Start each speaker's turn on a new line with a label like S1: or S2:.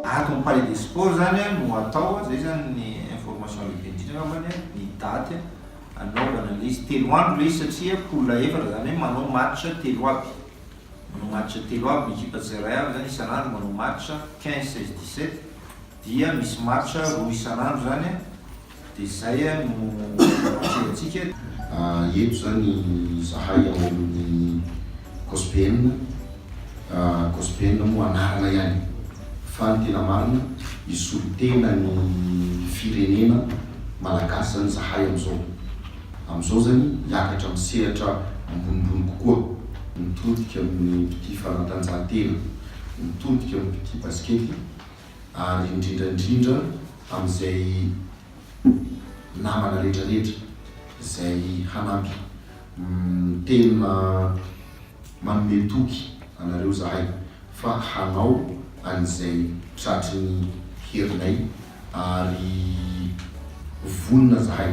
S1: Ato am page des sports zany a no atao a, zay zany ny information lehibe indrindra angambany a, ny daty a, anaovana ilay izy, telo andro ilay izy satria poule efatra zany hoe manao match telo aby, manao match telo aby ny ekipa tsirairay avy zany isan'andro manao match quinze, seize, dix-sept. Dia misy match roa isan'andro zany a, de zay a no atrehantsika. Eto
S2: zany izahay ao amin'ny COSPN, COSPN moa anarana ihany fa ny tena marina i solontena ny firenena malagasy zany izahay amin'izao. Amin'izao zany hiakatra amin'ny sehatra ambonimbony kokoa, mitodika amin'ny mpitia fanatanjahantena, mitodika amin'ny mpitia basikety, ary indrindra indrindra amin'izay namana rehetra rehetra izay hanampy tena manome toky anareo izahay fa hanao an'izay tratry ny herinay ary vonona izahay.